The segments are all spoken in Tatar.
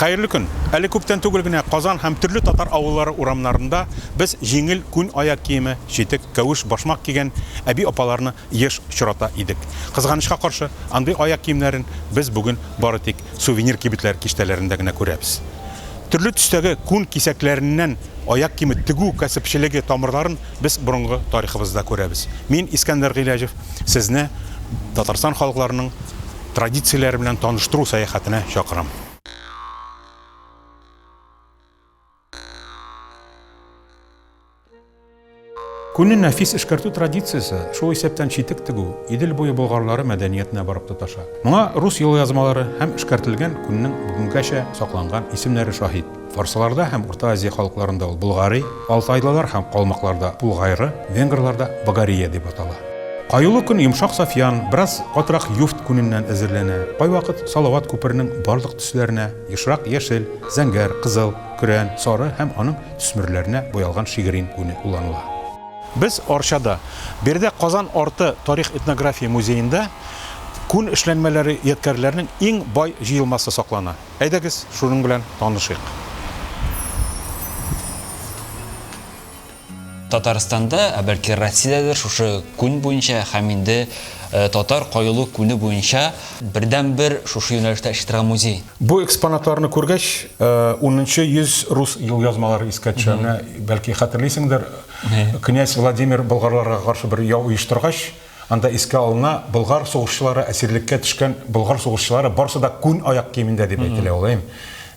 Хәерле көн. Әле күптән түгел генә Казан һәм төрле татар авыллары урамнарында без җиңел күн аяк киеме, читек, кәвеш, башмак кигән әби-апаларны еш очрата идек. Кызганычка каршы, андый аяк киемнәрен без бүген бары тик сувенир кибетләр киштәләрендә генә күрәбез. Төрле төстәге күн кисәкләреннән Аяк киеме тегү кәсепчелеге тамырларын без борынгы тарихыбызда күрәбез. Мин, Искәндәр Гыйләҗев, сезне Татарстан халыкларының традицияләре белән таныштыру сәяхәтенә чакырам. Күнне нәфис эшкәртү традициясе, шул исәптән читек тегү, Идел буе болгарлары мәдәниятенә барып тоташа. Моңа рус елъязмалары һәм эшкәртелгән күннең бүгенгәчә сакланган исемнәре шаһит. Фарсларда һәм Урта Азия халыкларында ул Болгари, алтайлылар һәм калмыкларда Булгайры, венгрларда Багария дип атала. Каюлы күн йомшак сафьян, бераз катырак юфт күненнән әзерләнә. Кайвакыт Салават күперенең барлык төсләренә, ешрак яшел, зәңгәр, кызыл, көрән, сары һәм аның төсмерләренә буялган шигырин күне кулланыла. Без Арчада, биредә Казан арты тарих-этнография музеенда күн эшләнмәләре ядкәрләренең иң бай җыелмасы саклана. Әйдәгез, шуның белән танышыйк. Татарстанда, ә бәлки Россиядәдер шушы күн буенча һәм инде татар каюлык күне буенча Бердәнбер шушы юнәлештә эшли торган музей. Бу экспонатларны күргәч, унынчы йөз рус юлъязмалары искә төшә. Менә, бәлки, хәтерлисеңдер, князь Владимир болгарларга каршы бер яу оештыргач, анда искә алына, болгар сугышчылары, әсирлеккә төшкән болгар сугышчылары барысы да күн аяк киемендә дип әйтелә ул, әй.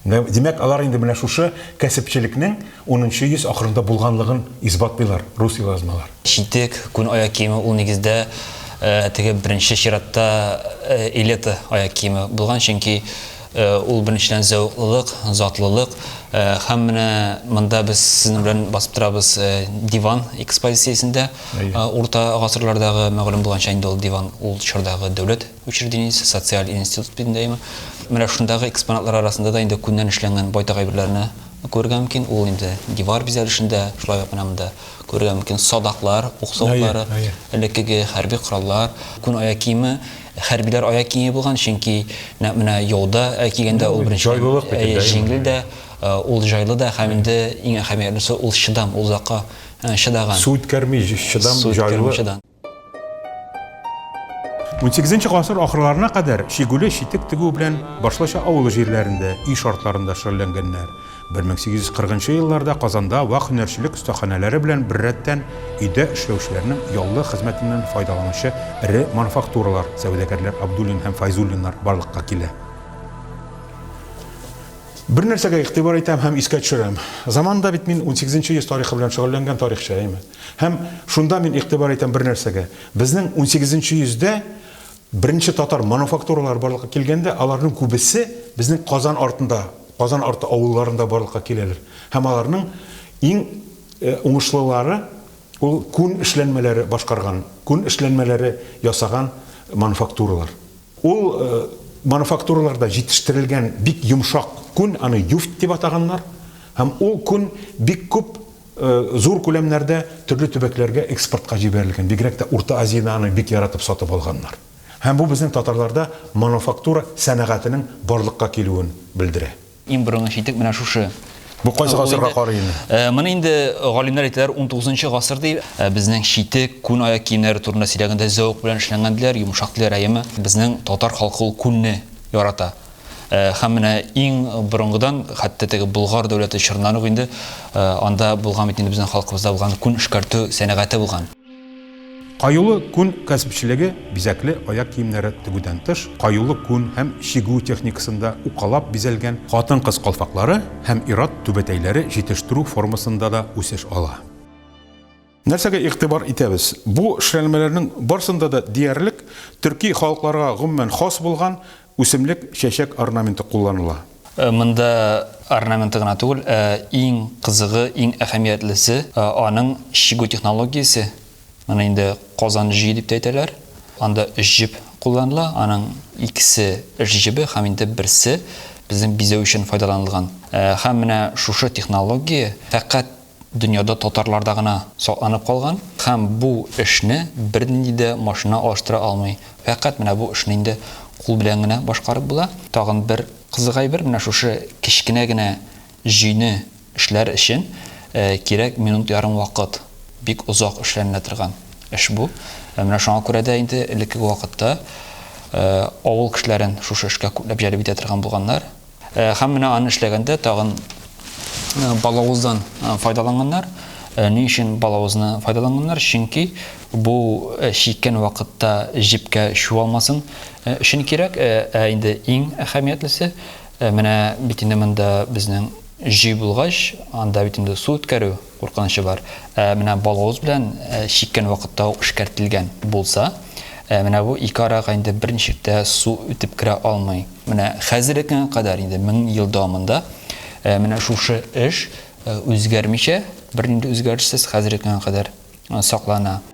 Димәк, алар инде менә шушы кәсепчелекнең Унынчы йөз ахырында булганлыгын исбатлыйлар рус елазмалар. Читек, күн аяк киеме ул нигездә теге беренче чиратта элета аяк киеме булган, чөнки ул беренчедән зәвыклылык, затлылык һәм менә монда без сезнең белән басып торабыз диван экспозициясендә. Урта гасырлардагы, мәгълүм булганча инде ул диван ул чордагы дәүләт учреждениесе, социаль институт бит инде әйеме. Менә шундагы экспонатлар арасында да инде күннән эшләнгән байтак әйберләрне Күрергә мөмкин, ул инде дивар бизәлешендә, шулай ук менә монда күрергә мөмкин садаклар, ук савытлары, элеккеге хәрби кораллар, күн аяк киеме, хәрбиләр аяк киеме булган, чөнки нәкъ менә яуда кигәндә ул беренчедән җиңел дә, ул җайлы да һәм инде иң әһәмиятлесе ул чыдам, ул озакка чыдаган. Су үткәрми, чыдам, җайлы. 18 гасыр ахырларына кадәр Чигүле читек тегү белән башлыча авыл җирләрендә, өй шартларында шөгыльләнгәннәр. 1840 елларда Казанда вак һөнәрчелек остаханәләре белән беррәттән өйдә эшләүчеләрнең яллы хезмәтеннән файдаланучы эре мануфактуралар, сәүдәгәрләр Абдуллин һәм Файзуллиннар барлыкка килә. Бер нәрсәгә игътибар итәм һәм искә төшерәм. Заманында бит мин 18 йөз тарихы белән шөгыльләнгән тарихчы, әйеме? Һәм шунда мин игътибар итәм бер нәрсәгә. Безнең унсигезенче йөздә беренче татар мануфактуралары барлыкка килгәндә, аларның күбесе безнең Казан артында, Казан арты авылларында барлыкка киләләр. Һәм аларның иң уңышлылары ул күн эшләнмәләре башкарган, күн эшләнмәләре ясаган мануфактуралар. Ул мануфактураларда җитештерелгән бик йомшак күн, аны юфт дип атаганнар. Һәм ул күн бик күп. Зур күләмнәрдә төрле төбәкләргә экспортка җибәрелгән, бигрәк тә Урта Азияне аны бик яратып сатып алганнар. Һәм бу безнең татарларда мануфактура сәнәгатенең барлыкка килүен белдерә. Иң борынгы читек менә шушы. Бу кайсы гасырга карый инде? Моны инде галимнәр әйтәләр, унтугызынчы гасыр ди. Ә безнең читек, күн аяк киемнәре турында сөйләгәндә, зәвык белән эшләнгән диләр, йомшак диләр, әйеме? Безнең татар халкы ул күнне ярата. Һәм менә иң борынгыдан, хәтта теге Болгар дәүләте чорыннан ук инде анда булган бит инде безнең халкыбызда булган күн эшкәртү сәнәгате булган. Каюлы күн кәсепчелеге бизәкле аяк киемнәре тегүдән тыш, каюлы күн һәм чигү техникасында укалап бизәлгән хатын-кыз калфаклары һәм ир-ат түбәтәйләре җитештерү формасында да үсеш ала. Нәрсәгә игътибар итәбез? Бу шрәлмәләрнең барсында да диярлек төрки халыкларга гомумән хас булган үсемлек чәчәк орнаменты кулланыла. Монда орнаменты гына түгел, ә иң кызыгы, иң әһәмиятлесе, аның чигү технологиясе. Моны инде Казан җөе дип тә әйтәләр. Анда өч җеп кулланыла, аның икесе эш җебе һәм инде берсе безнең бизәү өчен файдаланылган. Һәм менә шушы технология фәкать дөньяда татарларда гына сакланып калган һәм бу эшне бернинди дә машина алыштыра алмый. Фәкать менә бу эшне инде кул белән генә башкарып була. Тагын бер кызык әйбер, менә шушы кечкенә генә җөйне эшләр өчен кирәк минут ярым вакыт. Бик озак эшләнелә торган эш бу. Менә шуңа күрә дә инде элеккеге вакытта авыл кешеләрен шушы эшкә күпләп җәлеп итә торган булганнар. Һәм менә аны эшләгәндә тагын балавыздан файдаланганнар. Ни өчен балавызны файдаланганнар? Чөнки бу чиккән вакытта җепкә чуалмасын өчен кирәк. Ә инде иң әһәмиятлесе менә бит инде монда безнең җөй булгач, анда бит инде су үткәрү куркынычы бар. Ә менә балавыз белән чиккән вакытта ук эшкәртелгән булса, менә бу ике арага инде берничек тә су үтеп керә алмый. Менә хәзерге кадәр инде мең ел дәвамында менә шушы эш үзгәрмичә, бернинди үзгәрешсез хәзерге кадәр саклана.